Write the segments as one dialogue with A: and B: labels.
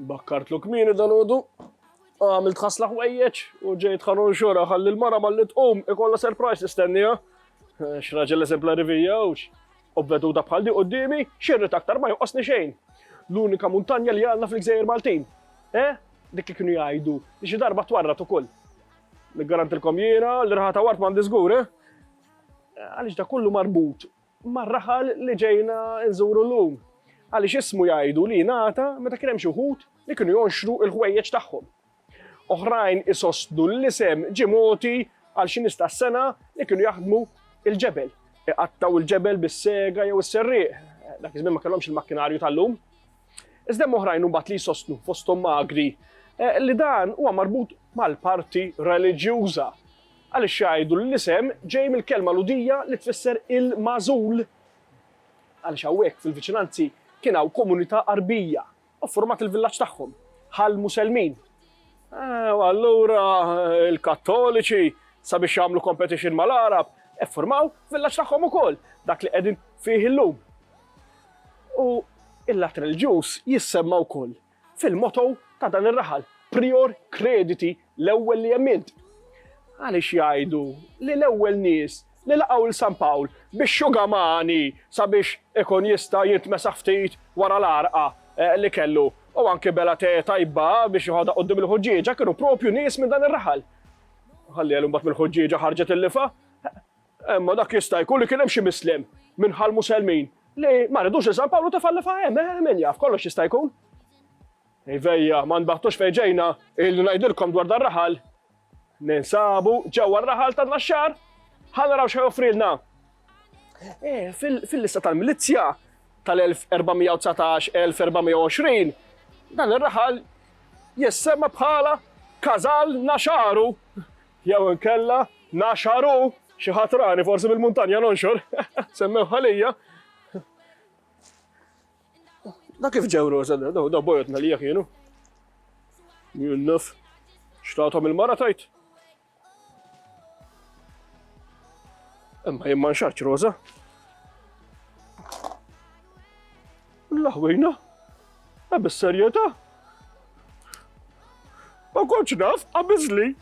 A: Bakkartlu kmieni dalodu, għamilt ħasla ħwejjeġ u ġejt ħanun xora ħalli l-mara malli tqum ikolla surprise nistennija. Eh, x'raġel eżemplari vija ux. U veduta bħal di qoddimi, xirrit aktar ma joqosni xejn. L-unika muntanja li għandna fl-gżejjer Maltin. Eh? Dik li kienu jgħidu, li xi darba twarrat ukoll. Niggarantilkom jiena, l-irħata wart m'għandi żgur, eh? Għaliex da kollu marbut mar-raħal li ġejna nżuru llum, għaliex ismu jgħidu li ngħata meta kien hemm xi wħud li kienu jonxru l-ħwejjeġ tagħhom. Oħrajn isostnu li l-isem ġie mogħti għal xi nies tas-sengħa li kienu jaħdmu l-ġebel, iqattgħu l-ġebel bis-sega jew is-serrieq, dak iż-żmien ma kellhomx il-makkinarju tal-lum. Iżda hemm oħrajn imbagħad li jsostnu fosthom magri eh, li dan huwa marbut mal-parti reliġjuża Għaliex jgħidu li l-isem ġej mill-kelma Lhudija li tfisser il-magħżul? Għaliex hawnhekk fil-viċinanzi kien hawn komunità Għarbija u ffurmat il-villaġġ tagħhom, bħall-Muselmin. Eh, u allura l-Kattoliċi sabiex jagħmlu competition mal-Għarab, effurmaw villaġġ tagħhom ukoll, dak li qegħdin fih illum. U il-lat reliġjuż jissemma wkoll Fil-motto ta' dan ir-raħal, Prior Crediti, l-ewwel li hemm int. Għaliex jgħidu li l-ewwel nies li laqgħu 'l San Pawl bix-xuga mani sabiex ikun jista' jintmesaħ ftit wara l-għarqa li kellu u anki bela te tajba biex joħodha quddiem il-ħuġġieġa kienu propju nies minn dan ir-raħal. Ħalli għelu mbagħad mill-ħuġġieġa ħarġet il-lifa? Imma dak jista' jkun li kien hemm xi misliem minn Ħal Muselmin li ma ridux li San Pawlu tefa' l-lefgħa hemm, eh, min jaf, kollox jista' jkun. Ivejja, ma nbaħtux fejn ġejna, ilni ngħidilkom dwar dar-raħal. Ninsabu ġewwa r-raħal ta' Naxxar. Ħa naraw x'ħa joffrilna. Eh, fil-lista tal-milizzja tal-1419-1420, dan ir-raħal jissemma bħala Kazal Naxaru. Jew inkella naxħaru xi ħadd rani forsi mill-muntanja nonxor, semmewha lija. Da kif ġew roża, da bojotna li kienu. Junnuf, xtatom il-mara tajt. Imma jimman xaċ roża. L-ħwejna? Ma bis-serjetà? Ma kontx naf, qabiżli.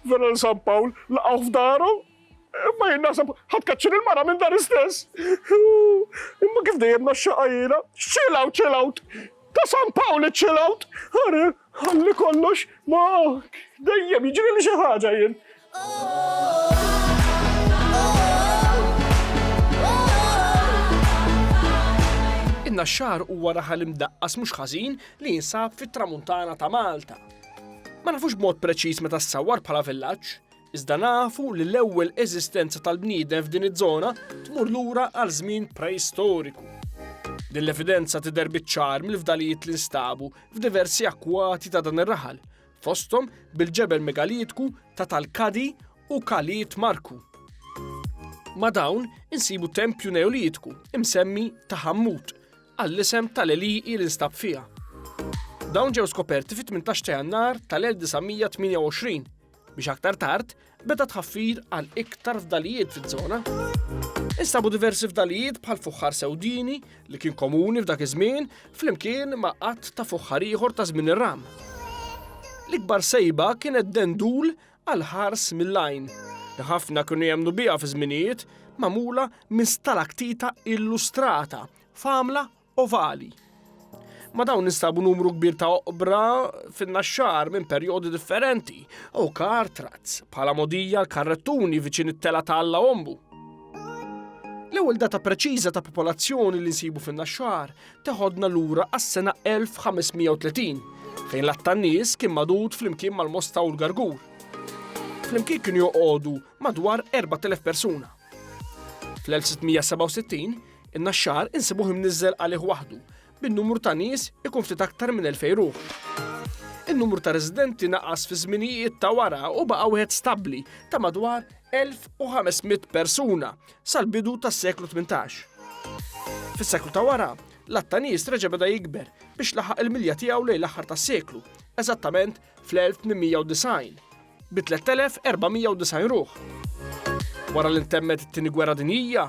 A: Vera l San Pawl laqgħu f'daru. Imma jien naħseb ħadd kaċċir il-mara minn dar istess. Imma kif dejjem naxxaqa jiena, chill out, chill out. Ta' San Pawl iċċill out. Ħalli kollox ma dejjem jiġri li xi ħaġa jien. In-Naxxar huwa raħal imdaqqas mhux ħażin li jinsab fit-Tramuntana ta' Malta. Ma nafux b'mod preċiż meta ssawwar bħala villaġġ, iżda nafu li l-ewwel eżistenza tal-bniedem f'din iż-żona tmur lura għal żmien preistoriku. Din l-evidenza tidher biċ-ċar mill-fdalijiet li nstabu f'diversi akkwati ta' dan ir-raħal, fosthom bil-ġebel megalitku ta' Talkadi u Kaliit Marku. Ma' dawn insibu tempju Neolitku imsemmi ta' Ħammut għall-isem tal-għelieqi li nstab fiha. Dawn ġew skoperti fit-18 ta' Jannar tal-1928 biex aktar tard Beda tħaffir għal iktar fdalijiet fiż-żona. Instabu diversi fdalijiet bħal fuħħar sewdini li kien komuni f'dak iż-żmien flimkien ma' qatt ta' fuħħar ieħor ta' żmien ir-ram. L-ikbar sejba kienet dendul għal ħars mill-għajn li ħafna kienu jemmnu biha fi żminijiet magħmula minn stalaktita illustrata f'għamla ovali. Ma' dawn nistabu numru kbir ta' oqbra fin-naxxar minn perjodi differenti u kar trazz bħala modija l-karrettuni viċin it-tela ta' Alla Ombu. L-ewwel data preċiża ta' popolazzjoni li nsibu fin-naxxar teħodna lura għas-sena 1530 fejn l tan-nies kien madud flimkien mal-Mosta u l-Gargur. Flimkien kienu joqogħdu madwar 4000 persuna. Fl-1667 In-Naxxar insibuh imniżżel għalih waħdu, bin-numru ta' nies ikun ftit aktar minn 2,000 ruħ. In-numru ta' residenti naqas fiż-żminijiet ta' wara u baqa' wieħed stabbli ta' madwar 1,500 persuna sal-bidu tas-seklu 18. Fis-seklu ta' wara, l-għadd ta' nies reġa' beda jikber biex laħaq il-milja tiegħu lejn l-aħħar tas-seklu, eżattament fl-1890, bi 3,490 ruħ. Wara li ntemmet it-Tieni Gwerra Dinjija,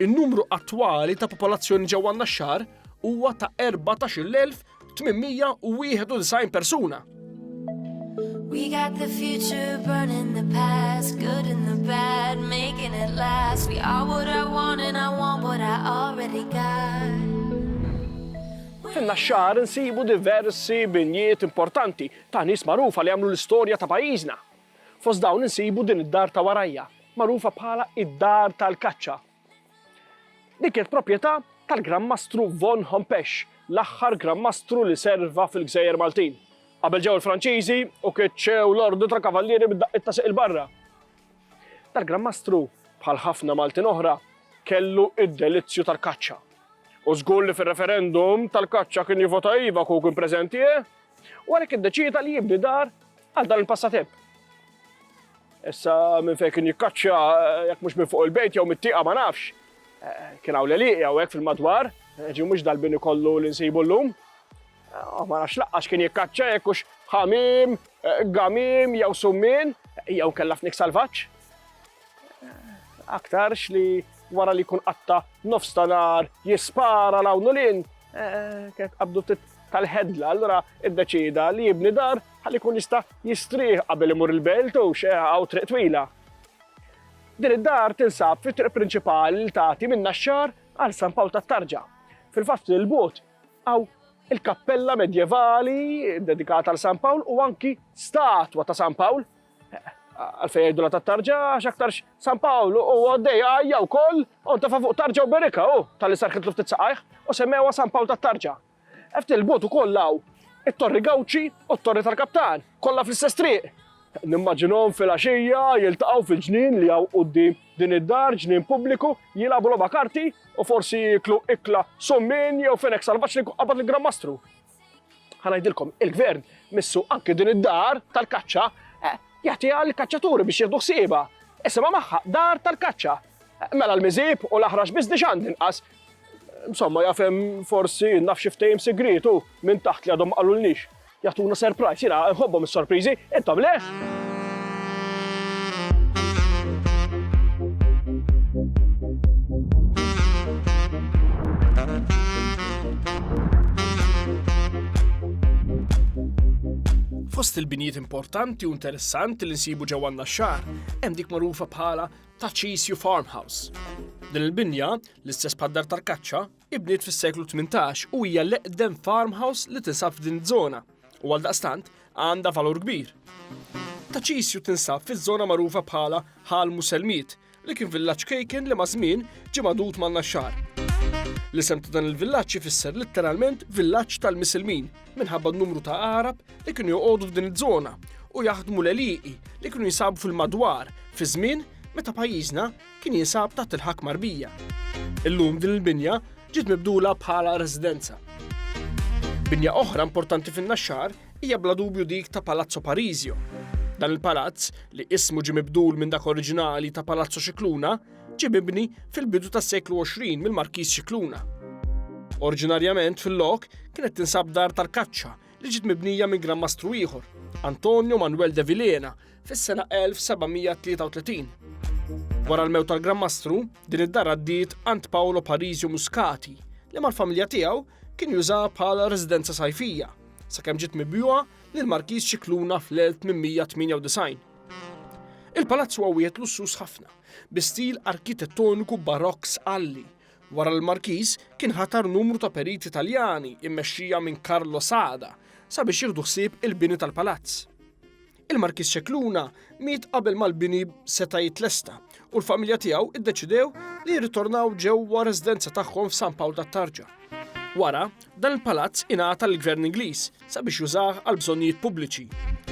A: In-numru attwali ta' popolazzjoni ġewwa n-Naxxar huwa ta' 14,891 persuna. We got the future burning the past Good and the bad, making it last We are what I want and I want what I already got Fin-Naxxar insibu diversi binjiet importanti ta' nies magħrufa li għamlu l-istorja ta' pajjiżna. Fost dawn insibu din id-dar ta' warajja, magħrufa bħala id-Dar tal-Kaċċa. Din kienet proprjetà tal-Gran Mastru von Hompesch, l-aħħar Gran Mastru li serva fil-Gżejjer Maltin. Qabel ġew il-Franċiżi u keċċew l-Ordni tal-Kavallieri bid-daqqiet ta' siq il-barra. Dal-Gran Mastru, bħal ħafna Maltin oħra, kellu id-delizzju tal-kaċċa. U żgur li fir-referendum tal-kaċċa kien jivota iva kieku kien preżenti, eh? u għalhekk iddeċieda li jibni dar Għal dan il-passatemp. Issa minn fejn kien jikkaċċja jekk mhux minn fuq il-bejt jew mit-tieqa ma nafx. Eh, kien hawn l-eliq jew hekk fil-madwar, eh, ġi mhux dal-bini kollu li nsibu llum. Eh, ma nafx laqqax kien jikkaċċja jekk hux ħamim, gamim jew summin jew kellha fnik salvaġġ. Aktarx li wara li jkun qatta nofs tanar jispara l-hawn lin, kien qabdu tal-ħedla, allura iddeċida li jibni dar ħalli jkun jista' jistrieħ qabel imur il-belt u hawn triq twila. Din id-dar tinsab fit-triq prinċipali li tagħti minn Naxxar għal San Pawl tat-Tarġa. Fil-fatt ftit il-bogħod hawn il-kappella medjevali dedikata għal San Pawl u anki statwa ta' San Pawl għalfej jgħidu la ta' tarġa, xaktarx San Paolo u għaddej għajja u koll, u ta' fuq tarġa u berika u tal-li sarkitlu ftit saqajħ, u semmewa San Paolo ta' tarġa. Ftit 'il bogħod ukoll hawn it-Torri Gawdxi u t-Torri tal-Kaptan, kollha fl-istess triq. Nimmaġinahom filgħaxija jiltaqgħu fil-ġnien li hawn quddiem din id-dar, ġnien pubbliku, jilagħbu logħba karti u forsi jieklu ikla summin jew fenek salvaġġ li jkun qabad lill-Gran Mastru. Ħa ngħidilkom, il-Gvern missu anki din id-dar tal-kaċċa eh, jagħtiha lill-kaċċaturi biex jieħdu ħsiebha. Isimha magħha dar tal-kaċċa. Eh, mela l-miżieb u l-aħrax biżnix għandi nqas Insomma, jaf hemm forsi naf xi ftehim sigriet u minn taħt li għadhom ma qalulniex. Jagħtuna surprise, jiena nħobbhom is-sorpriżi, intom le? Fost il-binjiet importanti u interessanti li nsibu ġewwa n-Naxxar, hemm dik magħrufa bħala ta' Cisju Farmhouse. Din il-binja, l-istess bħad-dar tal-kaċċa, ibniet fis-seklu 18 u hija l-eqdem farmhouse li tinsab f'din iż-żona u għal daqstant għandha valur kbir. Ta' Cisju tinsab fiż-żona magħrufa bħala Ħal Muselmiet li kien villaġġ kejken li maż-żmien ġie magħdud man-Naxxar. L-isem ta' dan il-villaġġ ifisser litteralment villaġġ tal-Misilmin minħabba n-numru ta' Għarab li kienu joqogħdu f'din iż-żona u jaħdmu l-għelieqi li kienu jinsabu fil-madwar fi żmien meta pajjiżna kien jinsab taħt il-ħakma Għarbija. Illum din il-binja ġiet mibdula bħala residenza. Binja oħra importanti fin-Naxxar hija bla dubju dik ta' Palazzo Parisio. Dan il-palazz, li ismu ġie mibdul minn dak oriġinali ta' Palazzo Scicluna, ġie mibni fil-bidu tas-seklu 20 mill-Markiż Scicluna. Oriġinarjament fil-lok kienet tinsab dar tal-kaċċa li ġiet mibnija minn Gran Mastru ieħor, Antonio Manuel de Vilhena, fis-sena 1733. Wara l-mewt tal-Gran Mastru, din id-dar għaddiet għand Paolo Parisio Muscati, li mal-familja tiegħu kien juża bħala residenza sajfija, sakemm ġiet mibjuha lil Markiż Scicluna fl-1898. Il-palazz huwa wieħed lussuż ħafna, bi stil arkitettoniku barokk sqalli. Wara l-Markiż kien ħatar numru ta' periti Taljani mmexxija minn Carlo Sada sabiex jieħdu ħsieb il-bini tal-palazz. Il-Markiż Scicluna miet qabel ma l-bini seta' jitlesta u l-familja tiegħu iddeċidew li jirritornaw ġewwa residenza tagħhom f'San Pawl tat-Tarġa. Wara, dan il-palazz ingħata l-Gvern Ingliż sabiex jużah għal bżonnijiet pubbliċi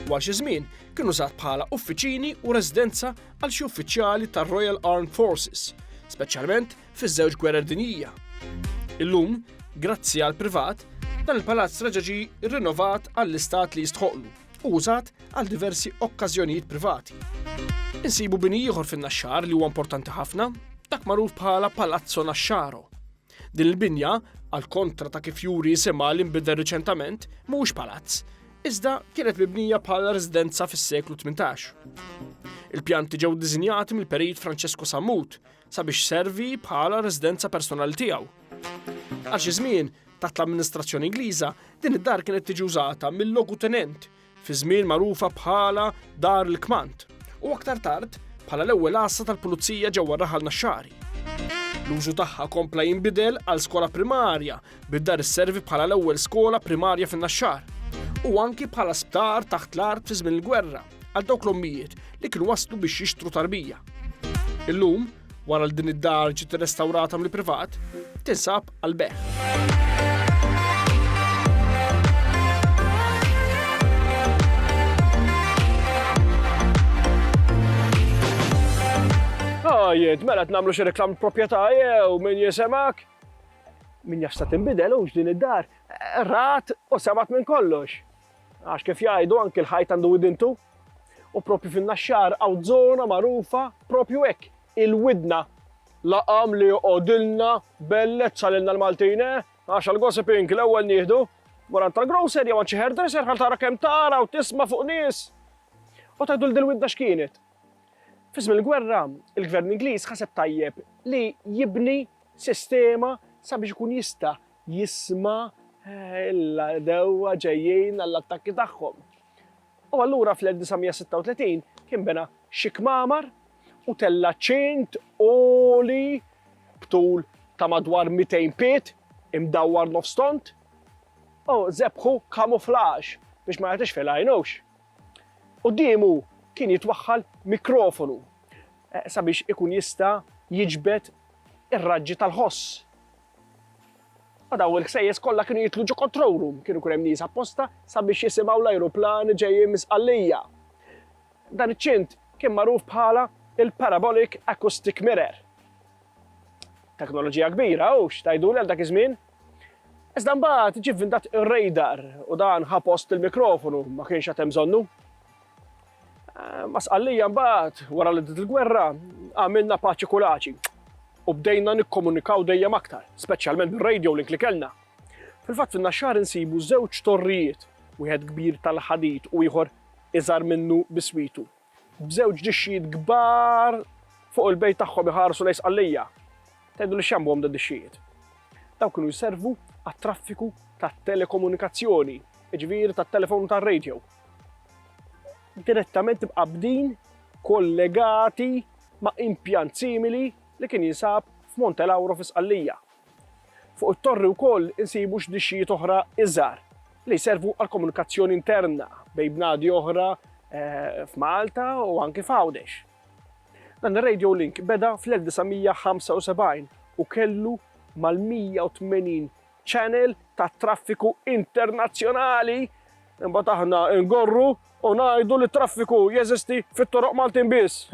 A: u għal xi żmien kien użat bħala uffiċini u residenza għal xi uffiċjali tar-Royal Armed Forces, speċjalment fiż-żewġ gwerer dinjija. Illum, grazzi għal privat, dan il-palazz reġa' ġie rrinnovat għall-istat li jistħoqlu u użat għal diversi okkażjonijiet privati. Insibu bini ieħor fin-Naxxar li huwa importanti ħafna, dak magħruf bħala Palazzo Naxxaro. Din il-binja, għal kontra ta' kif juri isimha li nbidel riċentament, mhuwiex palazz, iżda kienet mibnija bħala residenza fis-seklu 18. Il-pjanti ġew diżinjati mill-perit Francesco Sammut sabiex servi bħala residenza personali tiegħu. Għal xi żmien, taħt l-amministrazzjoni Ingliża, din id-dar kienet tiġi użata mill-logutenent fi żmien magħrufa bħala Dar il-Kmand, u aktar tard bħala l-ewwel għassa tal-Pulizija ġewwa r-Raħal Naxxari. L-użu tagħha kompla jinbidel għal skola primarja, bid-dar isservi bħala l-ewwel skola primarja fin-Naxxar, u anki bħala sptar taħt l-art fi żmien il-gwerra għal dawk l-ommijiet li kienu waslu biex jixtru tarbija. Illum, Wara li din id-dar ġiet irrestawrata mill-privat, tinsab għal beħ. Jent, mela t-namlu xie reklam propieta jew min jisemak. Min jafsa timbidel ux din id-dar. Rat u semat minn kollox. Għax kif jgħidu anki l-ħajt għandu widintu. U propju fin-Naxxar hawn żona magħrufa propju hekk, il-widna. Laqam li joqgħodilna bellezza lilna l-Maltin, eh? Għax għal-gossiping l-ewwel nieħdu Morant tal-grocer jew għanċi hairdresser għal tara kem tara u tisma fuq nis. U tajdu l dilwidda xkienet. Fism il-gwerra, il-gvern Ingliż ħaseb tajjeb li jibni sistema sabiex ikun jista jisma' l-għadewwa ġejjin għall-attakki tagħhom. U allura fl-1936 kien bena xi kmamar u tella' ċint għoli b'tul ta' madwar 200 pied imdawwar nofs tond u żebħu kamuflaġ biex ma jagħtix fil għajnux. Quddiemu kien jitwaħħal mikrofonu sabiex ikun jista' jiġbed ir-raġġi tal-ħoss. Ma dawn il-ksejjes kollha kienu jidħlu ġo control room, kienu jkun hemm nies apposta sabiex jisimgħu l-ajruplani ġejjin minn Sqallija. Dan iċ-ċint kien magħruf bħala il-parabolic acoustic mirror. Teknoloġija kbira, u x'tgħiduli għal dak iż-żmien? Iżda mbagħad ġie vvintat ir-radar u dan ħa post il-mikrofonu ma kienx għad hemm bżonnu. Ma' Sqallija mbagħad, wara li bdiet il-gwerra, għamilna paċi kulaċi u bdejna nikkomunikaw dejjem aktar, speċjalment bir-radio link li kellna. Fil-fatt fin-Naxxar insibu żewġ torrijiet, wieħed kbir tal-ħadid u ieħor iżgħar minnu biswitu, b'żewġ dixxijiet kbar fuq il-bejt tagħhom iħarsu lejn Sqallija. Tgħiduli x'jagħmbuhom dawn id-dixxijiet? Dawn kienu jservu għat-traffiku tat-telekomunikazzjoni, jiġifieri tat-telefon u tar-radio. direttament imqabbdin, kollegati ma' impjant simili li kien jinsab f'Monte Lauro fi Sqallija. Fuq it-torri wkoll insibu x'dixxijiet oħra iżgħar li jservu għall-komunikazzjoni interna bejn bnadi oħra f'Malta u anki f'Għawdex. Dan ir-radio link beda fl-1975 u kellu mal-180 channel tat-traffiku internazzjonali, imbagħad aħna ngorru u ngħidu li t-traffiku jeżisti fit-toroq Maltin biss.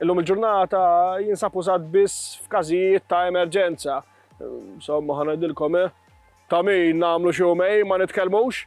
A: Illum il-ġurnata jinsab użat biss f'każijiet ta' emerġenza. Somma ħanajdilkom eh, ta' min nagħmlu xi ma nitkellmux.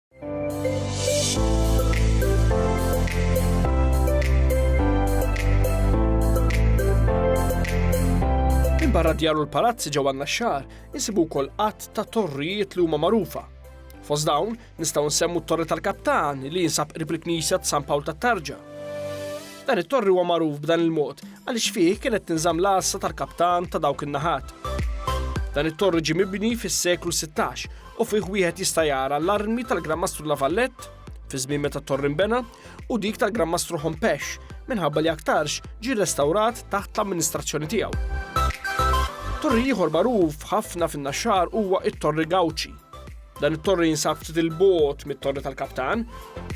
A: Barra djar u l-palazzi ġew għandna xar, insibu wkoll qatt ta' torrijiet li huma magħrufa. Fost dawn nistgħu nsemmu t-Torri tal-Kaptan li jinsab qrib il-Knisja ta' San Pawl tat-Tarġa. Dan it-torri huwa magħruf b'dan il-mod għaliex fih kienet tinżamm l-għassa tal-kaptan ta' dawk in-naħat. Dan it-torri ġie mibni fis-seklu 16 u fih wieħed jista' jara l-armi tal-Gran Mastru La Valette fiż-żmien meta t-torr inbena u dik tal-Gran Mastru Hompesch minħabba li aktarx ġie rrestawrat taħt l-amministrazzjoni tiegħu. Torri ieħor magħruf ħafna fin-Naxxar huwa t-Torri Gauci. Dan it-torri jinsab ftit il-bogħod mit-Torri tal-Kaptan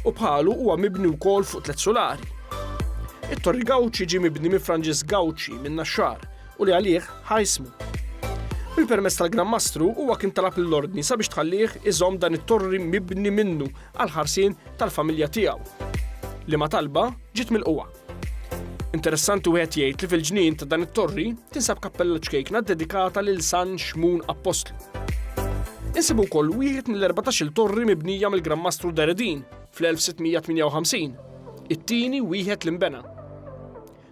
A: u bħalu huwa mibni wkoll fuq tliet sulari. It-Torri Gauci ġie mibni minn Franġisk Gauci minn Naxxar u li għalih ħa ismu. Bil-permess tal-Gran Mastru huwa kien talab lill-Ordni sabiex tħallih iżomm dan it-torri mibni minnu għal ħarsien tal-familja tiegħu. Li ma talba ġiet mill-qwa. Interessanti wieħed jgħid li fil-ġnien ta' dan it-torri tinsab kappella ċkejkna dedikata lil San Xmun Apostlu. Insibu wkoll wieħed mill-14 torri mibnija mill-Gran Mastru Deredin fl-1658, it-tieni wieħed l-imbena.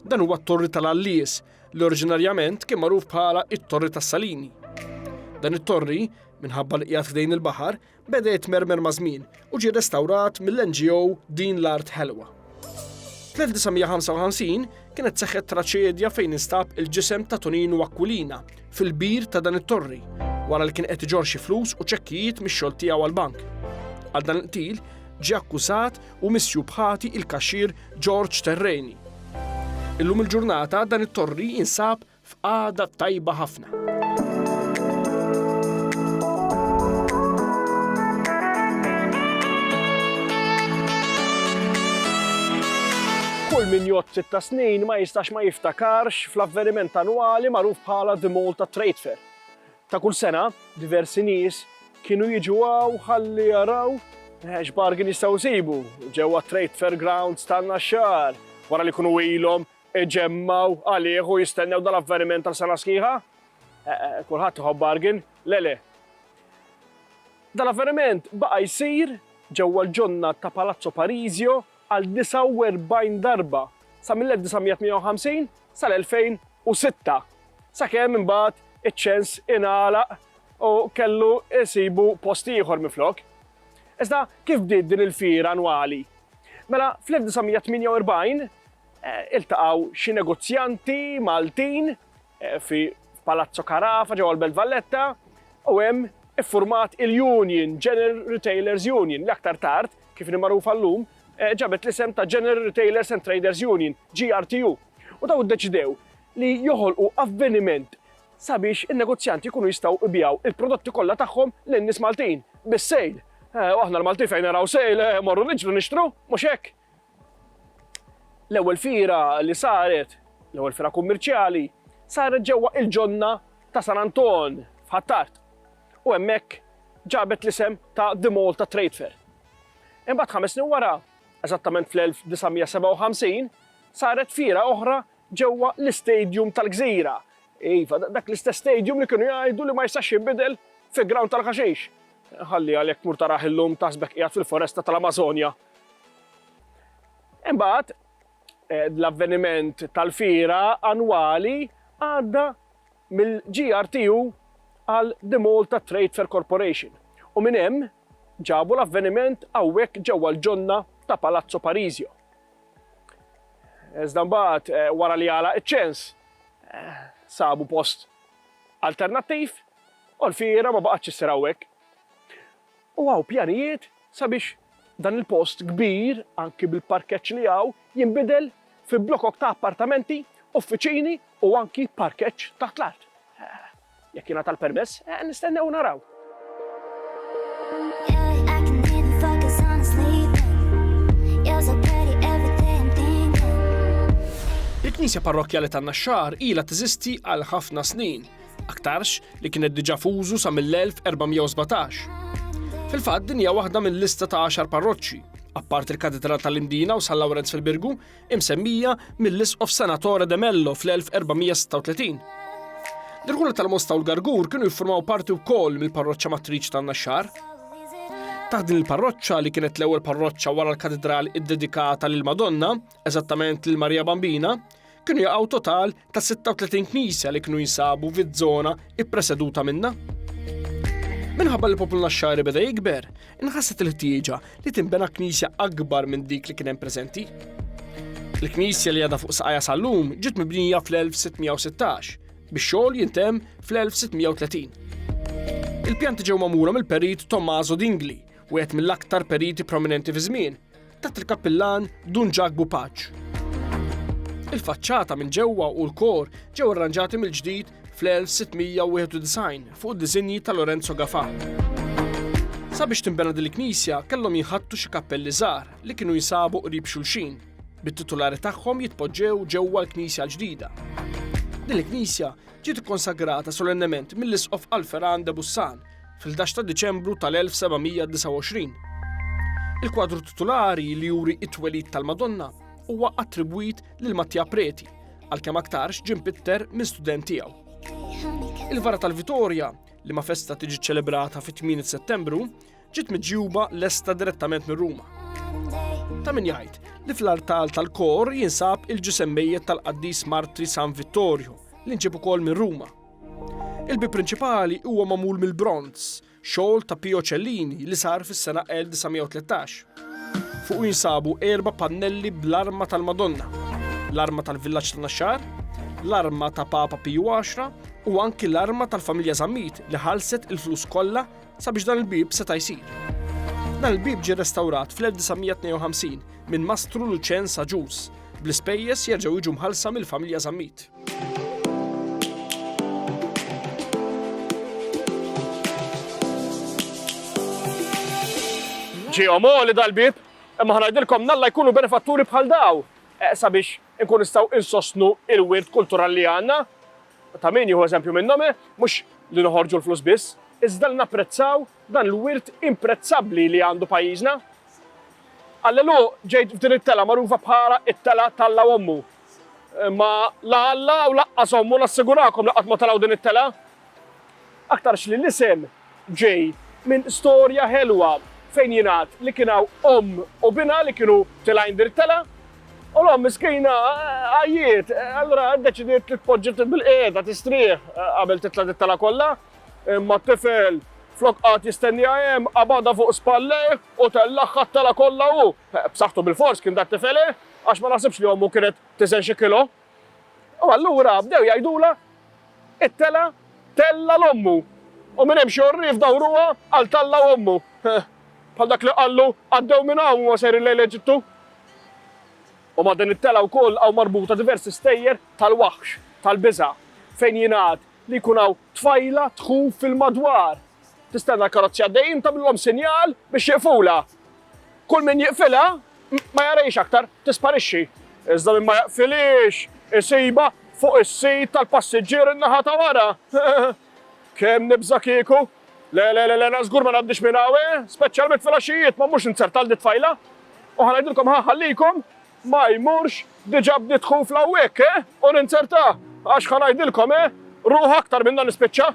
A: Dan huwa t-Torri tal-Għallies, li oriġinarjament kien magħruf bħala it-Torri tas-Salini. Dan it-torri, minħabba li qiegħed ħdejn il-baħar, beda jitmermer maż-żmien u ġie restawrat mill-NGO Din l-Art Ħelwa. Fl-1955 kienet seħħet traċedja fejn instab il-ġisem ta' Toninu Aquilina fil-bir ta' dan it-torri wara li kien qed iġorr xi flus u ċekkijiet mix-xogħol tiegħu għall-bank. Għal dan il-qtil ġie akkużat u misjub ħati il-kaxxier George Terreni. Illum il-ġurnata dan it-torri jinsab f'qagħda tajba ħafna. Kull min jgħod sitta snin ma jistax ma jiftakarx fl-avveniment annwali magħruf bħala The Malta Trade Fair. Ta' kull sena, diversi nies kienu jiġu hawn ħalli jaraw x'bargain jistgħu jsibu ġewwa t-Trade Fair Grounds tan-Naxxar wara li jkunu ilhom iġemmgħu għalih u jistennew dan l-avveniment għal sena sħiħa. Kulħadd iħobb bargain, le le. Dan l-avveniment baqa' jsir ġewwa l-ġonna ta' Palazzo Parisio għal 49 darba sa mill-1958 sal-2006, sakemm imbagħad iċ-ċens ingħalaq u kellu jsibu post ieħor minflok. Iżda kif bdiet din il-fiera annwali? Mela fl-1948 iltaqgħu xi negozjanti Maltin fi Palazzo Carafa ġewwa l-Belt Valletta u hemm iffurmat il-Union, General Retailers Union, li aktar tard, kif ni magħrufa llum, eh, ġabet l-isem ta' General Retailers and Traders Union, GRTU. U daw iddeċidew li joħolqu avveniment sabiex in-negozjanti jkunu jistgħu ibijaw il-prodotti kollha tagħhom lin nies Maltin bis-sejl. Eh, u aħna l-Malti fejn naraw sejl eh, morru niġru nixtru, mhux hekk. L-ewwel fiera li saret, l-ewwel fiera kummerċjali, saret ġewwa il-ġonna ta' San Anton f'Ħ'Attard u hemmhekk ġabet l-isem ta' The Malta Trade Fair. Imbagħad ħames snin wara, eżattament fl-1957, saret fiera oħra ġewwa l-istadium tal-Gżira, iva, dak l-istess stadium li kienu jgħidu li ma jistax jinbidel fi ground tal-ħaxix. Ħalliha li jekk tmur tarah illum taħsbek qiegħed fil-foresta tal-Amażonja. Imbagħad eh, l-avveniment tal-fira annwali għadda mill-GRTU għal The Malta Trade Fair Corporation u minn hemm ġabu l-avveniment hawnhekk ġewwa l-ġonna ta' Palazzo Parisio. Iżda mbagħad eh, wara li għala iċ-ċens eh, sabu post alternattiv U l-fiera ma baqgħetx issir hawnhekk. U hawn pjanijiet sabiex dan il-post kbir, anki bil-parkeġġ li hawn, jinbidel fi blokok ta' appartamenti, uffiċini u anki parkeġġ taħt l-art. Jekk jingħata l-permess, nistennew u naraw. Il-Knisja Parrokkjali tan-Naxxar ilha teżisti għal ħafna snin. aktarx li kienet diġà f'użu sa mill-1417. Fil-fatt din hija waħda mill-lista ta' għaxar parroċċi, apparti l-Katedral tal-Imdina u San Lawrenz fil-Birgu, imsemmija mill-Isqof Senatore de Mello fl-1436. L-irħula tal-Mosta u l-Gargur kienu jiffurmaw parti wkoll mill-parroċċa matriċi tan-Naxxar. Taħt din il-parroċċa li kienet l-ewwel parroċċa wara l-katedral iddedikata lil Madonna, eżattament lil Marija Bambina, Kienu jaqgħu total ta' 36 knisja li kienu jinsabu fiż-żona ippreseduta minna. Minħabba li poplu naxxari beda jikber, inħasset il-ħtieġa li tinbena knisja akbar minn dik li kien hemm preżenti. Il-knisja li għadha fuq saqajja sal-lum ġiet mibnija fl-1616 biex xogħol jintem fl-1630. Il-pjanti ġew magħmula mill-perit Tommaso Dingli, wieħed mill-aktar periti prominenti fi żmien, tat il-kappillan Dun Ġakbu Paċ. Il-faċċata minn ġewwa u l-kor ġew arranġati mill-ġdid fl-1691 fuq diżinji ta' Lorenzo Gafà. Sabiex tinbena din il-knisja kellhom jinħattu xi kappelli żgħar li kienu jinsabu qrib xulxin, bit-titulari tagħhom jitpoġġew ġewwa l-knisja l-ġdida. Din il-knisja ġiet ikkonsagrata solennement mill-Isqof Alferan de Bussan fil-11 ta' Diċembru tal-1729. Il-kwadru titulari li juri it-twelid tal-Madonna huwa attribwit lil Mattia Preti, għalkemm aktarx ġim pitter minn student tiegħu. Il-vara tal-Vitorja, li ma festa tiġi ċelebrata fit-8 Settembru, ġiet miġjuba lesta direttament minn Ruma. Ta' min jgħid li fl-artal tal-kor jinsab il-ġisem mejjet tal-qaddis Martri San Vittorio li nġib ukoll minn Ruma Il-bieb prinċipali huwa magħmul mill-bronz, xogħol ta' Pio Cellini li sar fis-sena 1913. Fuq jinsabu erba' pannelli bl-arma tal-Madonna, l-arma tal-villaġġ ta' Naxxar, l-arma ta' Papa Piju 10 u anki l-arma tal-familja Zammit li ħalset il-flus kollha sabiex dan il-bib seta' jsir. Dan il-bib ġie restawrat fl-1952 minn Mastru Luċen Saġus bl-ispejjeż jerġgħu jiġu mħallsa mill-familja Zammit. Ġihom li dal-bib, imma ħanajdilkom nalla jkunu benefatturi bħal daw eh, sabiex nkun nistaw insostnu il-wirt kulturali li għanna. Ta' min jieħu eżempju minnhom, eh, mhux li noħorġu l-flus biss, iżda li napprezzaw dan l-wirt imprezzabbli li għandu pajjiżna. Allelu ġejt f'din it-tela magħrufa bħala it-tela tal-la ommu, Imma la Alla u laqqas ommu nassigurakom li qatt ma taraw din it-telgħa. Aktarx li l-isem ġej minn storja ħelwa fejn jingħad li kien hawn omm u binha li kienu tilgħin din it-telgħa u l-omm miskina għajjiet, allura ddeċidiet li tpoġġi bil-qiegħda tistrieħ qabel titla' dit-telgħa kollha. Imma t-tifel flok qagħad jistenniha hemm qabadha fuq spallejh u tellagħha t-telgħa kollha hu. B'saħħtu bilfors kien dat-tifel, eh? għax ma naħsibx li ommu kienet tiżen xi kilo. U allura bdew jgħidulha, It-telgħa tellgħa 'l ommu, u minn hemm xi għorrief dawruha għal talla' ommu. Bħal dak li qallu, Għaddew minn hawn huma sejrin lejn l-Eġittu. U ma' din it-telgħa wkoll hawn marbuta diversi stejjer tal-waħx, tal-biża', fejn jingħad li jkun hawn tfajla tħuf fil-madwar. Tistenna l-karozzi għaddejjin tagħmlilhom sinjal biex jiqfulha. Kull min jiqfilha ma jarajx aktar tisparixxi. Iżda min ma jaqfilix isiba fuq is-sit tal-passiġġier in-naħa ta' wara. Kemm nibża' kieku? Le, le, le, le, żgur ma ngħaddix minn hawn, eh? speċjalment fil-għaxijiet ma mhux inzertal dit tfajla. U ħanajdilkom ħa ħallikom Ma jmurx, diġa bdiet ħufla hawnhekk, eh? U ninzerta, għax ħa ngħidilkom, eh? Ruħ aktar minn dan nispiċċa.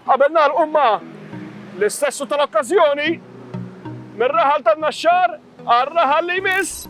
A: Qabel nagħlqu imma, l-istess u tal-okkażjoni, mir-raħal tan-Naxxar għar-raħal li jmiss.